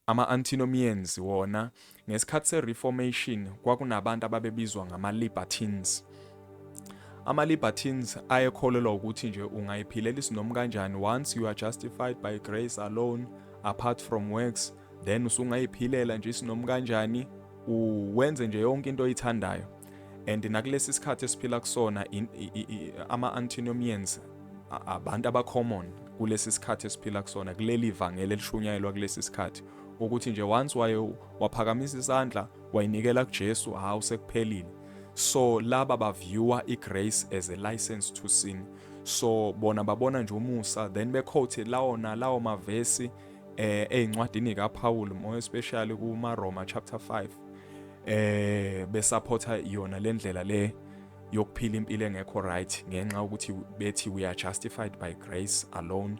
Ama-antinomians wona, ngesikhathi seReformation kwakunabantu ababebizwa ngama-libertines. Ama-libertines ayekholelwa ukuthi nje ungayiphilela isinomu kanjani once you are justified by grace alone apart from works then usungayiphilela nje isinomu kanjani uwenze nje yonke into oyithandayo. and nakulesi sikhathi esiphila kusona ama-antinomians abantu abacommon kulesi sikhathi esiphila kusona kuleli vangeli elishunyayelwa kulesi sikhathi ukuthi nje once waye waphakamisa isandla wayinikela kuJesu hawu sekuphelile so laba baviewer igrace as a license to sin so bona babona nje umusa then bequote lawona lawo mavesi eh ezincwadini kaPaul more especially kuma Roma chapter 5 eh besupporta yona lendlela le yokuphila impilo engekho right ngenxa ukuthi bethi we are justified by grace alone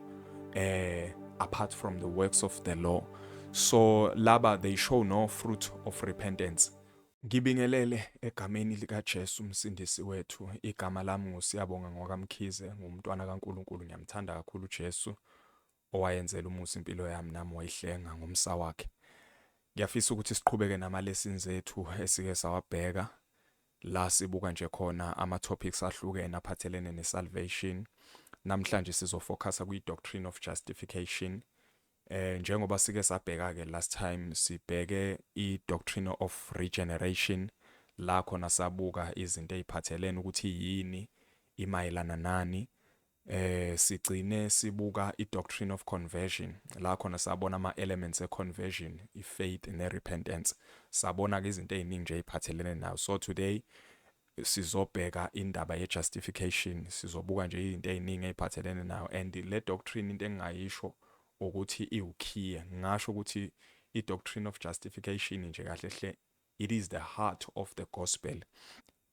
eh apart from the works of the law so laba they show no fruit of repentance Ngibingelele egameni likaJesu uMsindisi wethu. Igama lami nguSiyabonga ngwaKaMkhize, ngumntwana kaNkulunkulu, ngiyamthanda kakhulu uJesu. owayenzela umusa impilo yami nami wayihlenga ngomsa wakhe. Ngiyafisa ukuthi siqhubeke nama-lessons ethu esike sawabheka la sibuka nje khona ama-topics ahlukene aphathelene ne-salvation. Namhlanje sizofocusa kwi-doctrine of justification. Eh njengoba sike sabheka ke last time sibheke i-doctrine of regeneration la khona sabuka izinto eziphathelene ukuthi yini imayelana nani eh sigcine sibuka i-doctrine of conversion la khona sabona ama-elements e-conversion i-faith ne-repentance sabona-ke izinto ey'ningi nje ey'phathelene nayo so today sizobheka indaba ye-justification sizobuka nje izinto ey'ningi ey'phathelene nayo and le doctrine into engingayisho ukuthi iwukhiye ngingasho ukuthi i-doctrine of justification nje kahle hle it is the heart of the gospel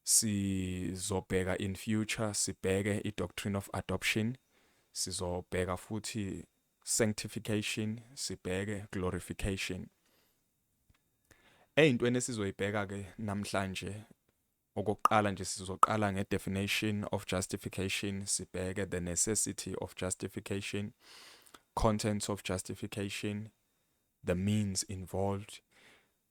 Sizobheka in future sibheke i doctrine of adoption, sizobheka futhi sanctification, sibheke glorification. Eyintweni esizoyibheka ke namhlanje okokuqala nje sizoqala nge definition of justification, sibheke the necessity of justification, contents of justification, the means involved.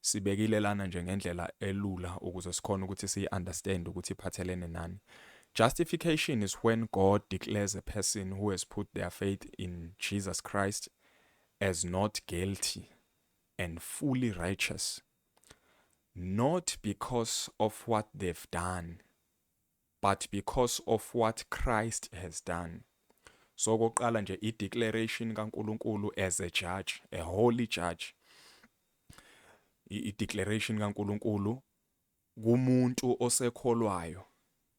sibekile lana nje ngendlela elula ukuze sikhona ukuthi siyi understand ukuthi iphathelene nani justification is when god declares a person who has put their faith in jesus christ as not guilty and fully righteous not because of what they've done but because of what Christ has done. So okokuqala nje i declaration kaNkuluNkulu as a judge, a holy judge. I declaration kaNkuluNkulu kumuntu osekholwayo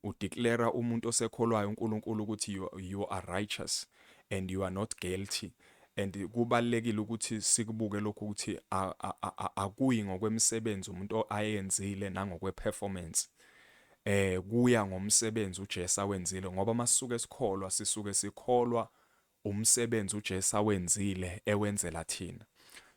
udeclara umuntu osekholwayo uNkulunkulu ukuthi you, you are righteous and you are not guilty and kubalekile ukuthi sikubuke lokhu ukuthi akuyi ngokwemisebenzi umuntu ayenzile nangokweperformance Eh kuya ngomsebenzi uJesu awenzile ngoba masisuke sikholwa sisuke sikholwa umsebenzi uJesu awenzile ewenzela thina.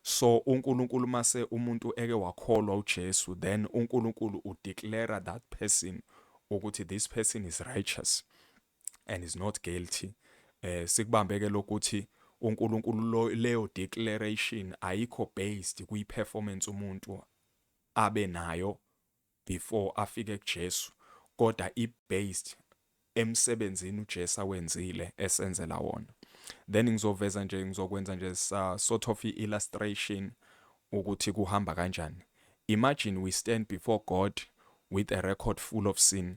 So uNkulunkulu mase umuntu eke wakholwa uJesu then uNkulunkulu udeclare that person ukuthi this person is righteous and is not guilty. Eh sikubambeke lokuthi uNkulunkulu leyo declaration ayikho based kwi performance umuntu abe nayo before afike kuJesu koda i based emsebenzini uJesu awenzile esenzela wona. Then ngizoveza nje ngizokwenza nje sa sort of i illustration ukuthi kuhamba kanjani. Imagine we stand before God with a record full of sin.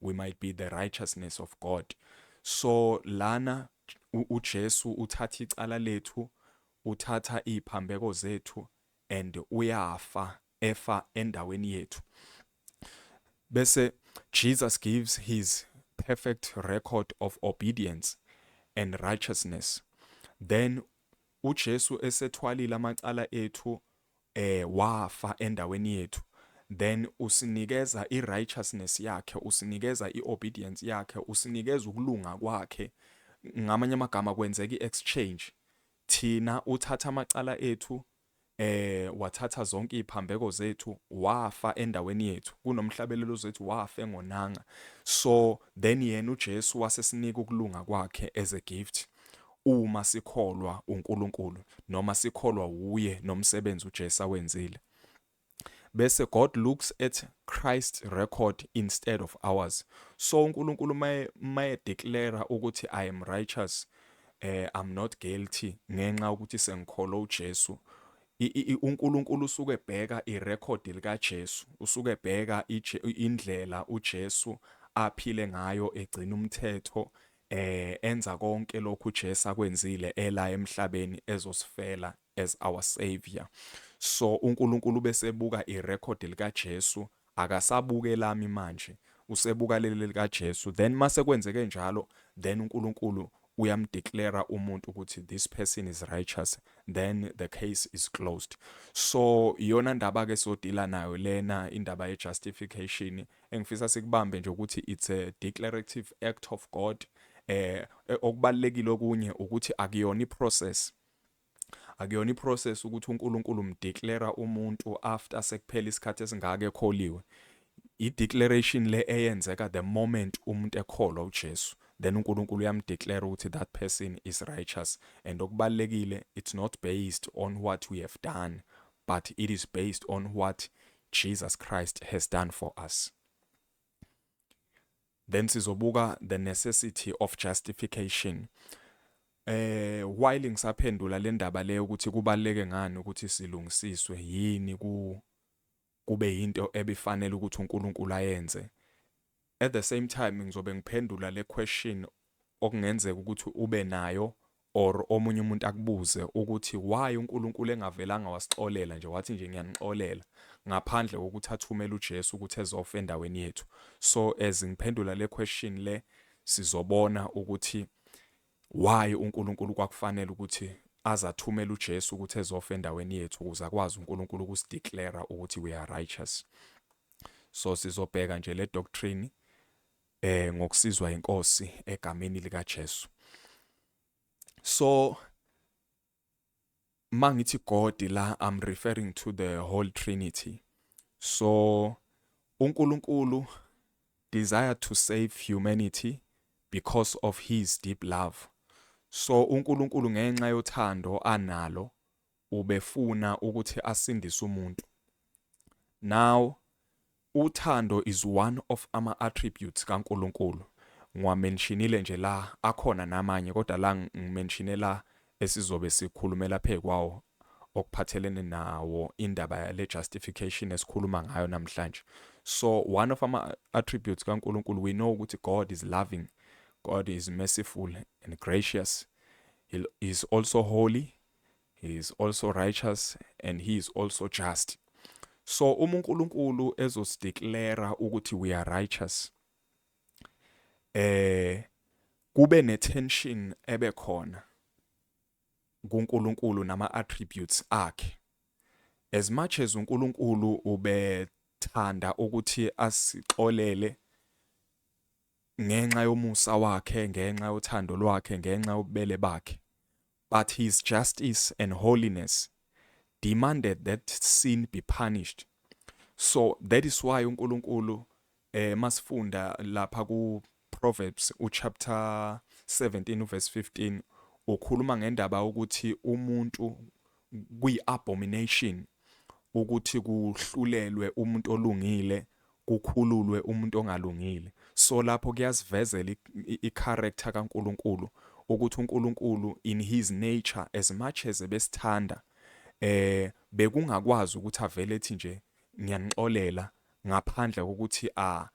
we might be the righteousness of God so lana uJesu uthatha icala lethu uthatha iziphambeko zethu and uyafa efa endaweni yethu bese Jesus gives his perfect record of obedience and righteousness then uJesu esethwalile amacala ethu eh wafa endaweni yethu then usinikeza i righteousness yakhe usinikeza i obedience yakhe usinikeza ukulunga kwakhe ngamanye amagama kwenzeka i exchange thina uthatha amacala ethu eh wathatha zonke iziphambeko zethu wafa endaweni yethu kunomhlabelelo zethu wafa engonanga so then yena uJesu wasesinika ukulunga kwakhe as a gift Uma sikholwa uNkulunkulu noma sikholwa wuye nomsebenzi uJesu awenzile. Bese God looks at Christ's record instead of ours. So uNkulunkulu maye maye declare ukuthi I am righteous eh I'm not guilty ngenxa ukuthi sengikholwa uJesu uNkulunkulu usuke ebheka irekhodi likaJesu usuke ebheka indlela uJesu aphile ngayo egcina umthetho eh enza konke lokhu uJesu akwenzile ela emhlabeni ezosifela as our savior so uNkulunkulu besebuka irecord likaJesu akasabuke lami manje usebuka leli likaJesu then mase kwenzeke njalo then uNkulunkulu uyamdeclare umuntu ukuthi this person is righteous then the case is closed so iyona ndaba ke sodila nayo lena indaba ye justification Engifisa sikubambe nje ukuthi it's a declarative act of God eh okubalekile okunye ukuthi akuyona iprocess akuyona iprocess ukuthi uNkulunkulu umdeclare umuntu after sekuphela isikhathi esingaka ekholiwe i-declaration le eyenzeka the moment umuntu ekholwa uJesu then uNkulunkulu uyamdeclare ukuthi that person is righteous and okubalekile it's not based on what we have done but it is based on what Jesus Christ has done for us. Then sizobuka the necessity of justification. Eh while ngisaphendula le ndaba le ukuthi kubaleke ngani ukuthi silungisiswe yini ku kube into ebifanele ukuthi uNkulunkulu ayenze At the same time ngizobe ngiphendula le question okungenzeka ukuthi ube nayo or omunye umuntu akubuze ukuthi why uNkulunkulu engavelanga wasixolela nje wathi nje ngiyanixolela ngaphandle kokuthi athumele uJesu ukuthi ezofa endaweni yethu so as ngiphendula le question le sizobona ukuthi Why uNkulunkulu kwakufanele ukuthi aze athumele uJesu ukuthi ezofa endaweni yethu ukuze akwazi uNkulunkulu ukusideclara ukuthi we are righteous. So sizobheka nje le doctrine eh ngokusizwa inkosi egameni lika Jesu. So mangithi God la I'm referring to the whole trinity so uNkulunkulu desire to save humanity because of his deep love so uNkulunkulu ngenxa yothando analo ubefuna ukuthi asindise umuntu now Uthando is one of ama attributes ka Nkulunkulu ngiwa menshinile nje la akhona namanye kodwa la ngimenshinee la esizobe sikhulumela phe kwawo okuphathelene nawo indaba yale justification esikhuluma ngayo namhlanje so one of ama attributes ka Nkulunkulu we know ukuthi God is loving God is merciful and gracious he is also holy he is also righteous and he is also just so uma uNkulunkulu ezosideklera ukuthi we are righteous eh kube ne tension ebe khona kuNkulunkulu nama attributes akhe as much as uNkulunkulu ubethanda ukuthi asixolele ngenxa yomusa wakhe ngenxa yothando lwakhe ngenxa yobubele bakhe But his justice and holiness demanded that sin be punished. So that is why uNkulunkulu eh masifunda lapha ku Proverbs uchapter 17 verse 15 ukhuluma ngendaba ukuthi umuntu kuyi abomination ukuthi kuhlulelwe umuntu olungile kukhululwe umuntu ongalungile so lapho kuyasivezela i character ka Nkulunkulu ukuthi uNkulunkulu in his nature as much as ebesithanda eh bekungakwazi ukuthi avele ethi nje ngiyanixolela ngaphandle kokuthi a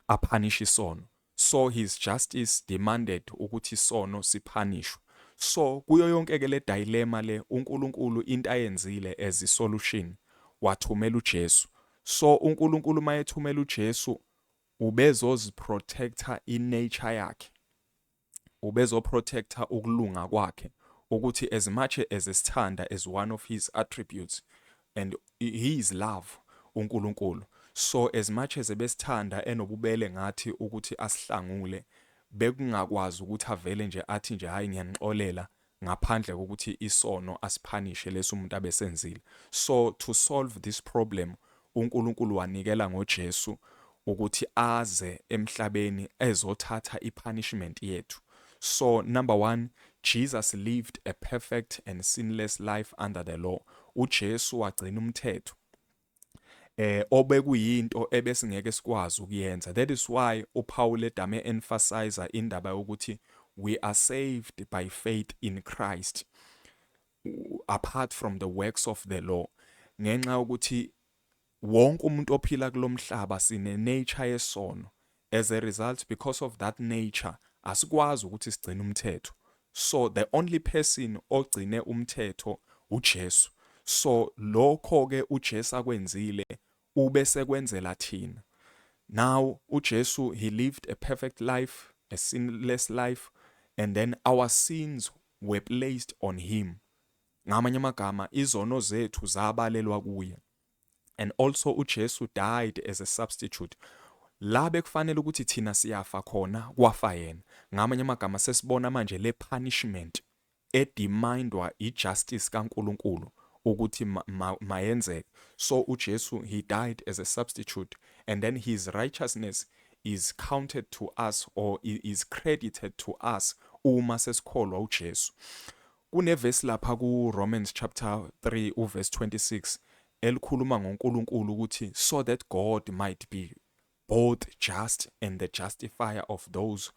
aphanish isono so his justice demanded ukuthi isono siphanishwe so kuyoyonke ke le dilemma le uNkulunkulu into ayenzile as i solution wathumela uJesu so uNkulunkulu mayethumela uJesu ubezozi protector i nature yakhe ubezo protector ukulunga kwakhe ukuthi as much as esithanda as one of his attributes And he is love uNkulunkulu so as much as ebesithanda enobubele ngathi ukuthi asihlangule bekungakwazi ukuthi avele nje athi nje hayi ngiyanixolela ngaphandle kokuthi isono asiphanishe lesi umuntu abesenzile so to solve this problem uNkulunkulu wanikela ngoJesu ukuthi aze emhlabeni ezothatha i punishment yethu so number one Jesus lived a perfect and sinless life under the law uJesu wagcina umthetho eh obekuyinto ebesingeke sikwazi ukuyenza that is why uPaul edame emphasize indaba yokuthi we are saved by faith in Christ apart from the works of the law ngenxa ukuthi Wonke umuntu ophila kulomhlaba sine nature yesono as a result because of that nature asikwazi ukuthi sigcine umthetho so the only person ogcine umthetho uJesu so lokho ke uJesu akwenzile ube sekwenzela thina now uJesu he lived a perfect life a sinless life and then our sins were placed on him ngamanye amagama izono zethu zabalelwa kuye and also uJesu died as a substitute la bekufanele ukuthi thina siyafa khona kwafa yena ngamanye amagama sesibona manje le punishment edemandwa ijustice kaNkuluNkulu ukuthi mayenzeke so uJesu he died as a substitute and then his righteousness is counted to us or is credited to us uma sesikholwa uJesu Kunevesi lapha kuRomans chapter 3 uverse 26 elikhuluma ngoNkulunkulu ukuthi so that God might be both just and the justifier of those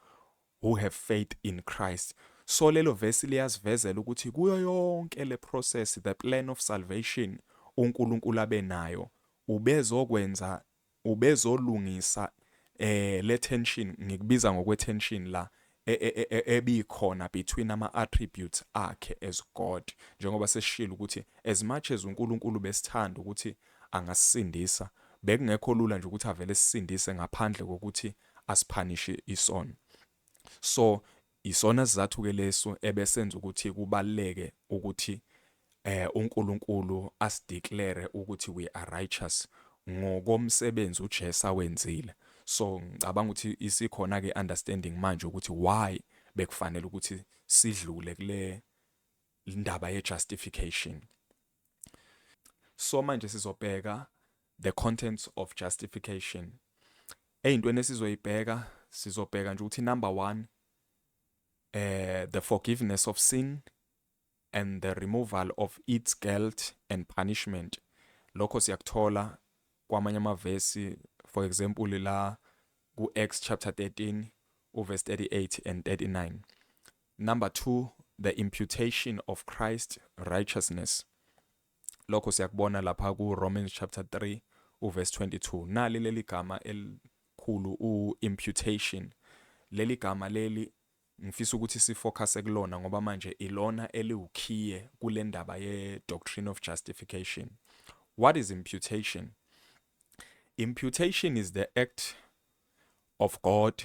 who have faith in Christ. So lelo verse liyasivezela ukuthi kuyo yonke le process the plan of salvation uNkulunkulu abenayo ubezokwenza ubezolungisa eh le tension ngikubiza ngokwe tension la e, e, e, ebikhona between ama attributes akhe as God njengoba seshilo ukuthi as much as uNkulunkulu besithanda ukuthi angasindisa bekungekho lula nje ukuthi avele sisindise ngaphandle kokuthi asiphanishe isono So isona sizathu ke leso ebesenza ukuthi kubaleke ukuthi eh uNkulunkulu asideclare ukuthi we are righteous ngokomsebenzi uJesu awenzile so ngicabanga ukuthi isikhona ke understanding manje ukuthi why bekufanele ukuthi sidlule kule indaba ye justification so manje sizobheka the contents of justification eyintweni esizoyibheka sizobheka nje ukuthi number 1 eh the forgiveness of sin and the removal of its guilt and punishment lokho siyakuthola kwamanye amavesi for example la ku-Acts chapter 13 uverse 38 and 39 Number two, the imputation of Christ righteousness. Lokho siyakubona lapha ku-Romans chapter 3 uverse 22. Nali leli gama elikhulu u-imputation. Leli gama leli ngifisa ukuthi sifocuse kulona ngoba manje ilona eliwukhiye kule ndaba ye-doctrine of justification. What is imputation? Imputation is the act of God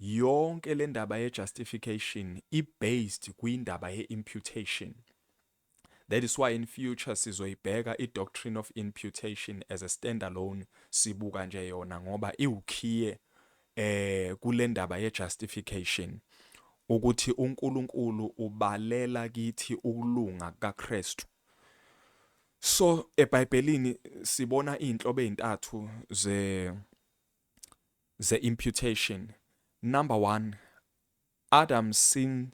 Yonke lendaba ye justification i based kwindaba ye imputation. That is why in future sizoyibheka i doctrine of imputation as a standalone sibuka nje yona ngoba iwukhiye eh kulendaba ye justification ukuthi uNkulunkulu ubalela kithi ukulunga kukaKristu. So eBhayibhelini sibona izinhlobo ezintathu ze ze-imputation. Number one, Adam's sin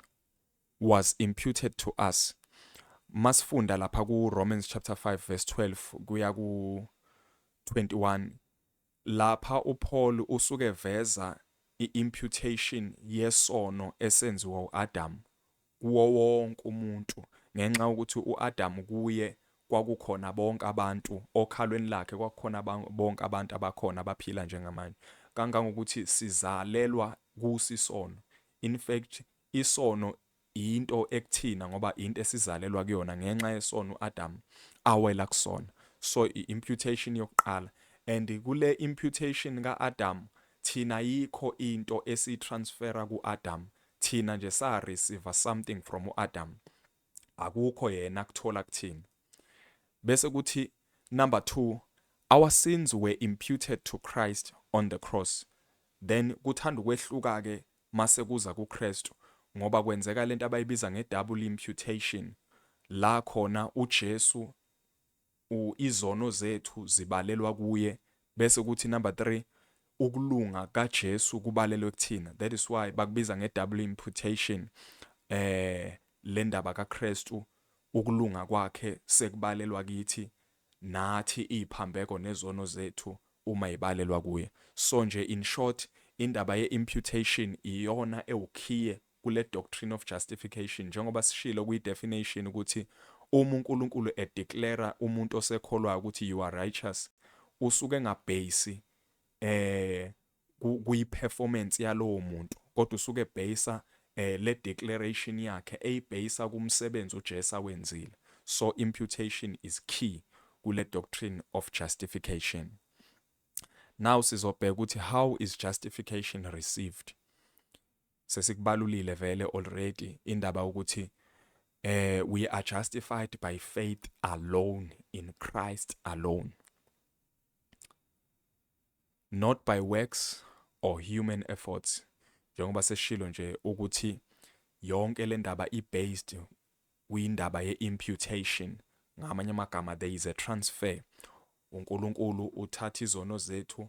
was imputed to us. Masifunda lapha ku-Romans chapter 5 verse 12 kuya ku-21 lapha uPaul usuke veza i-imputation yesono esenziwa u-Adam kuwo wonke umuntu, ngenxa yokuthi uAdamu kuye kwakukhona bonke abantu, okhalweni lakhe kwakukhona bonke abantu abakhona abaphila njengamanje, kangangokuthi sizalelwa kuso isono. In fact, isono yinto ekuthina ngoba yinto esizalelwa kuyona ngenxa yesono uAdamu awela kusona. So i-imputation yokuqala and kule imputation kaAdamu thina yikho into esiyitransfera kuAdamu Thina nje sa receiver something from u Adam. Akukho yena kuthola kuthina. Bese kuthi number 2 our sins were imputed to Christ on the cross. Then kuthanda ukwehluka ke mase kuza kuKristu ngoba kwenzeka lento abayibiza nge double imputation la khona uJesu u izono zethu zibalelwa kuye bese kuthi number three ukulunga kaJesu kubalelwe kuthina that is why bakubiza nge double imputation eh le ndaba kaKristu ukulunga kwakhe sekubalelwa kithi nathi iziphambeko nezono zethu uma ibalelwa kuye so nje in short indaba ye imputation iyona ewukhiye kule doctrine of justification njengoba sishilo kwi definition ukuthi uma uNkulunkulu e declare umuntu osekholwayo ukuthi you are righteous usuke engabhesi eh kuyi performance yalowo muntu kodwa usuke bhayisa eh le declaration yakhe eyibhayisa kumsebenzi uJesu awenzile so imputation is key kule doctrine of justification now sizobheka ukuthi how is justification received Sesikubalulile vele already indaba ukuthi eh we are justified by faith alone in Christ alone not by works or human efforts njengoba seshilo nje ukuthi yonke le ndaba i-based kwindaba ye-imputation ngamanye amagama there is a transfer uNkulunkulu uthatha izono zethu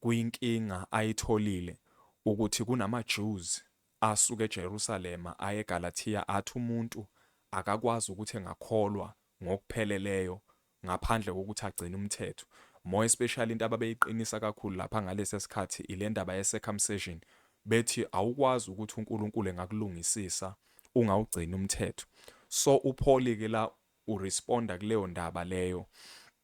kuyinkinga ayitholile ukuthi kunamaJews asuka eJerusalema aye eGalathiya athi umuntu akakwazi ukuthi engakholwa ngokupheleleyo ngaphandle kokuthi agcine umthetho. More especially into ababeyiqinisa kakhulu lapha ngalesi sikhathi ile ndaba ye-circumcision, bethi awukwazi ukuthi uNkulunkulu engakulungisisa ungawugcini umthetho. So uPaul-ke la uresponda kuleyo ndaba leyo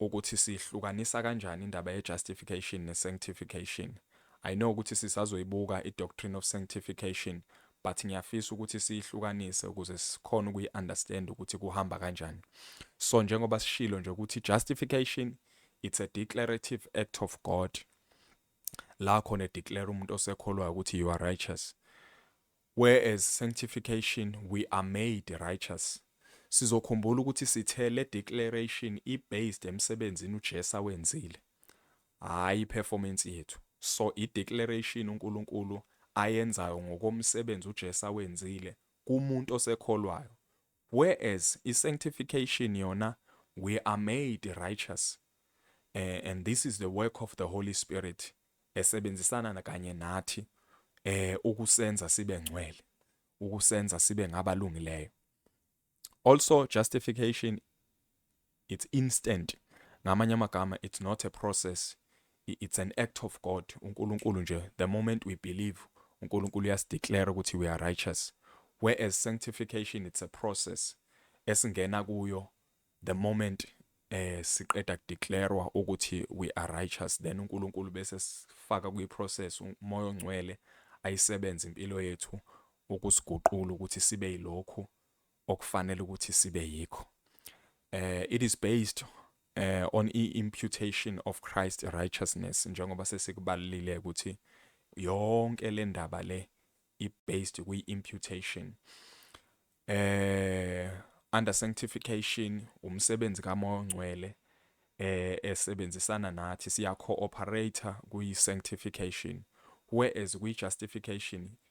ukuthi siyihlukanisa kanjani indaba ye justification ne sanctification. I know ukuthi sisazoyibuka i doctrine of sanctification but ngiyafisa ukuthi siyihlukanise ukuze sikhone ukuyi understand ukuthi kuhamba kanjani. So njengoba sishilo nje ukuthi justification it's a declarative act of God la khona declare umuntu osekholwayo ukuthi you are righteous. Where as sanctification we are made righteous. Sizokhumbula ukuthi sithe le declaration i based emsebenzini uJesu awenzile. Hhayi i performance yethu. So i declaration uNkulunkulu ayenzayo ngokomsebenzi uJesu awenzile kumuntu osekholwayo. Whereas i sanctification yona we are made righteous eh, and this is the work of the Holy Spirit esebenzisana kanye nathi eh ukusenza sibe ngcwele ukusenza sibe ngabalungileyo also justification It's instant. Ngamanye amagama it's not a process. It's an act of God. UNkulunkulu nje the moment we believe uNkulunkulu uyasideclare ukuthi we are righteous. Whereas sanctification it's a process esingena kuyo the moment eh siqeda kudeclarewa ukuthi we are righteous then uNkulunkulu bese sifaka kwi process umoya ongcwele ayisebenza impilo yethu ukusiguqula ukuthi sibe yilokhu okufanele ukuthi sibe yikho eh it is based eh on i imputation of Christ righteousness njengoba sesikubalile ukuthi yonke le ndaba le i based kwi imputation eh under sanctification umsebenzi kaMoya oNgcwele eh esebenzisana nathi siya cooperator kwi sanctification whereas kwi justification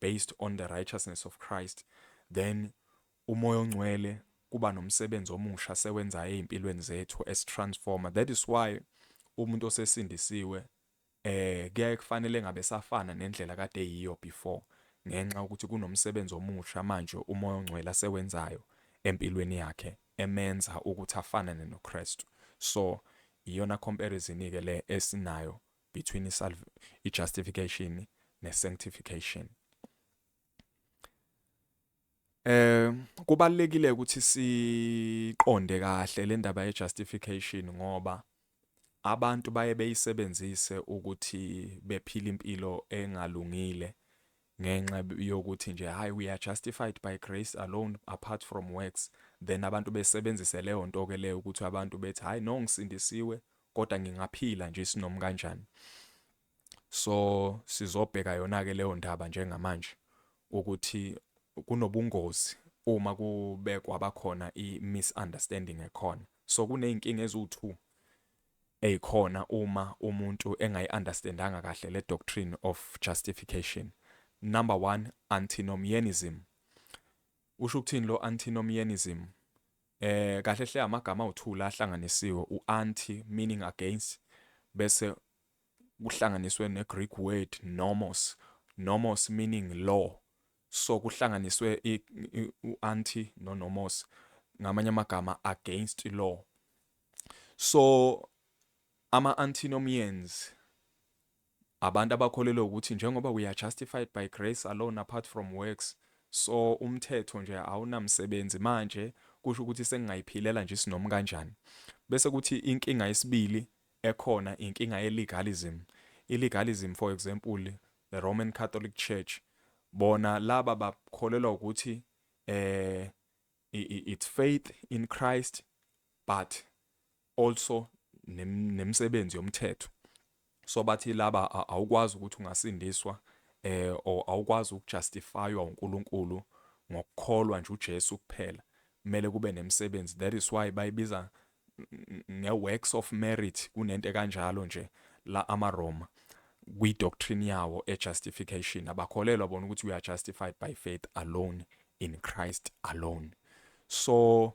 based on the righteousness of Christ then uMoya oNgcwele kuba nomsebenzi omusha sewenzayo ezimpilweni zethu as transformer that is why umuntu osesindisiwe eh kuyaye kufanele ngabe safana nendlela kade yiyo before ngenxa ukuthi kunomsebenzi omusha manje uMoya oNgcwele asewenzayo empilweni yakhe emenza ukuthi afanane noKristu so iyona comparison ke le esinayo between i-justification ne-sanctification. Eh kubalekile ukuthi siqonde kahle le ndaba ye-justification ngoba abantu baye beyisebenzise ukuthi bephile impilo engalungile ngenxa yokuthi nje hayi we are justified by grace alone apart from works then abantu besebenzise leyo nto ke leyo ukuthi abantu bethi hayi no ngisindisiwe kodwa ngingaphila nje isinomi kanjani so sizobheka yona ke leyo ndaba njengamanje ukuthi kunobungozi uma kubekwa bakhona i misunderstanding ekhona so kuneyinkinga eziwu2 Ey khona uma umuntu engayi understandanga kahle le doctrine of justification. Number one antinomianism. Usho ukuthini lo antinomianism? Eh kahle hle amagama awuthula ahlanganisiwe u anti meaning against bese kuhlanganiswe ne Greek word nomos. Nomos meaning law. so kuhlanganiswe u-anti no-nomos ngamanye amagama against law so ama-antinomians abantu abakholelwa ukuthi njengoba we are justified by grace alone apart from works so umthetho nje awunamsebenzi manje kusho ukuthi sengingayiphilela nje isinomi kanjani bese kuthi inkinga yesibili ekhona inkinga ye legalism, i legalism for example the Roman Catholic Church bona laba bakholelwa ukuthi eh it's faith in Christ but also nemsebenzi yomthetho so bathi laba awukwazi ukuthi ungasindiswa eh or awukwazi ukujustifywa uNkulunkulu ngokukholwa nje uJesu kuphela kumele kube nemsebenzi that is why bayibiza nge-works of merit kunento kanjalo nje la amaRoma kwi-doctrine yawo e-justification abakholelwa bona ukuthi we are justified by faith alone in Christ alone so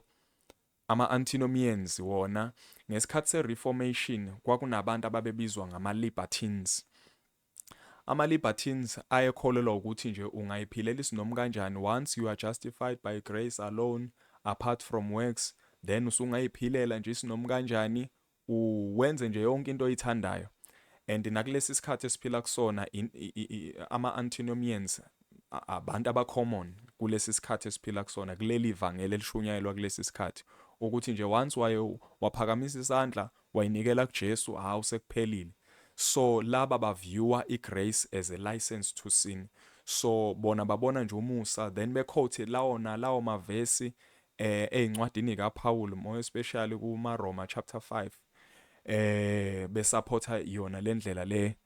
ama-antinomians wona ngesikhathi se-reformation kwakunabantu ababebizwa ngama-libertines Ama-libertines ayekholelwa wukuthi nje ungayiphilela isinomu kanjani once you are justified by grace alone apart from works then usungayiphilela nje isinomu kanjani u wenze nje yonke into oyithandayo and nakulesi sikhathi esiphila kusona ama-antinomians abantu abacommon kulesi sikhathi esiphila kusona kuleli vangeli elishunyayelwa kulesi sikhathi ukuthi nje once waye waphakamisa isandla Wayinikela kuJesu hawu sekuphelile so laba ba viewer I grace as a license to sin so bona babona nje umusa then be quote lawo nalawo mavesi eh ezincwadini ka Paul more especially ku maRoma chapter 5 eh be supporta yona lendlela le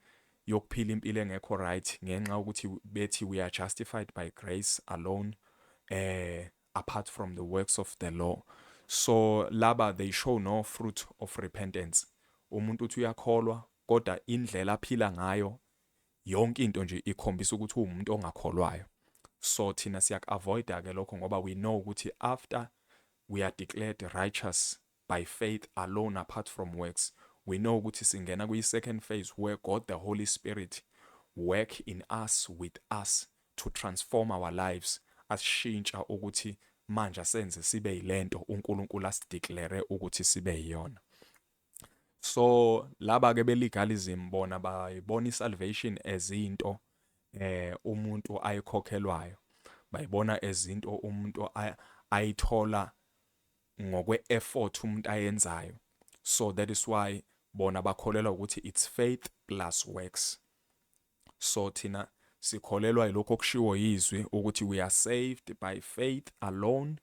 yokuphila impilo engekho right ngenxa ukuthi bethi we are justified by grace alone eh apart from the works of the law so laba they show no fruit of repentance umuntu uthi uyakholwa kodwa indlela aphila ngayo yonke into nje ikhombisa ukuthi uwumuntu ongakholwayo so thina siyaku-avoida-ke lokho ngoba we know ukuthi after we are declared righteous by faith alone apart from works, we know ukuthi singena kwi second phase where God the Holy Spirit work in us with us to transform our lives asishintsha ukuthi manje asenze sibe yilento uNkulunkulu asideclare ukuthi sibe yiyona so laba ke belegalism bona bayibona isalvation as into eh umuntu ayikhokhelwayo bayibona ezinto umuntu ayithola ngokwe effort umuntu ayenzayo so that is why bona bakholelwa ukuthi it's faith plus works so thina sikholelwa yilokho okushiwo yizwi ukuthi we are saved by faith alone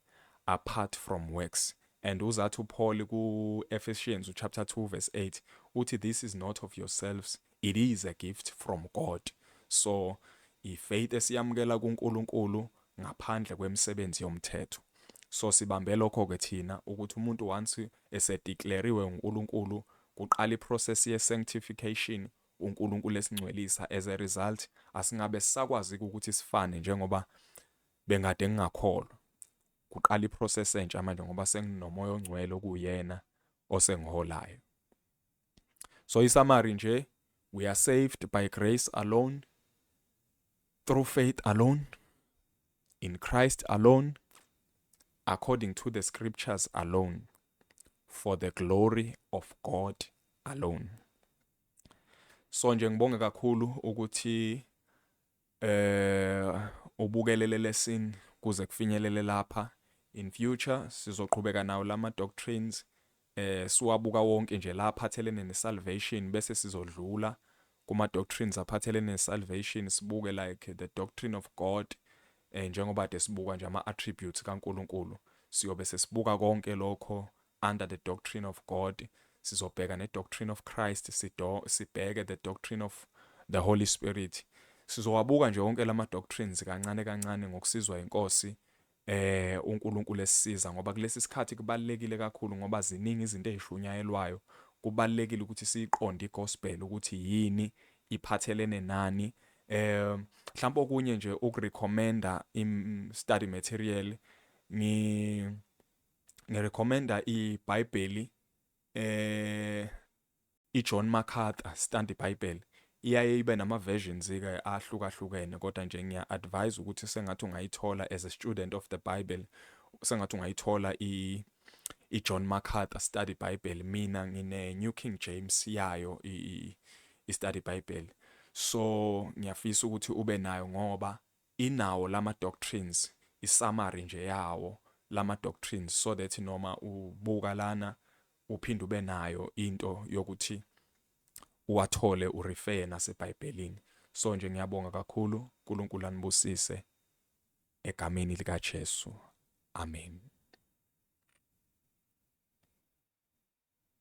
apart from works and uzathi uPaul ku-Ephesians chapter 2 verse 8 uthi this is not of yourselves It is a gift from God. So ifaith esiyamukela kuNkulunkulu ngaphandle kwemisebenzi yomthetho. So sibambe lokho ke thina ukuthi umuntu once esedeclariwe uNkulunkulu kuqala iprocess ye sanctification uNkulunkulu esingcwelisa as a result asingabe sisakwazi ukuthi sifane njengoba bengade ngingakholwa kuqala iprocess entsha manje ngoba senginomoya ongcwele okuyena osengiholayo so isamari nje we are saved by grace alone through faith alone in Christ alone according to the scriptures alone for the glory of God alone so nje ngibonge kakhulu ukuthi Eh ubukelele lesson kuze kufinyelele lapha. In future sizoqhubeka nawo lama doctrines eh siwabuka wonke nje la aphathelene ne salvation bese sizodlula kuma doctrines aphathelene ne salvation sibuke like the doctrine of God eh njengoba de sibuka nje ama attributes kaNkuluNkulu siyobe sesibuka konke lokho under the doctrine of God sizobheka ne doctrine of Christ sido sibheke the doctrine of the Holy Spirit sizowabuka nje wonke lama doctrines kancane kancane ngokusizwa inkosi eh uNkulunkulu esisiza ngoba kulesi sikhathi kubalekile kakhulu ngoba ziningi izinto ezishunyayelwayo kubalekile ukuthi siqonde igospel ukuthi yini iphathelene nani eh mhlawumbe okunye nje ukurecommenda im study material ngi ngi recommenda iBhayibheli eh iJohn MacArthur Study Bible iyaye ibe nama versions ke ahlukahlukene kodwa nje ngiya advise ukuthi sengathi ungayithola as a student of the Bible sengathi ungayithola i iJohn MacArthur Study Bible mina ngine New King James yayo i i Study Bible so ngiyafisa ukuthi ube nayo ngoba Inawo lama doctrines i summary nje yawo lama doctrines so that noma ubuka lana uphinde ube nayo into yokuthi uwathole u refer nasebhayibhelini so nje ngiyabonga kakhulu uNkulunkulu anibusise egameni lika Jesu amen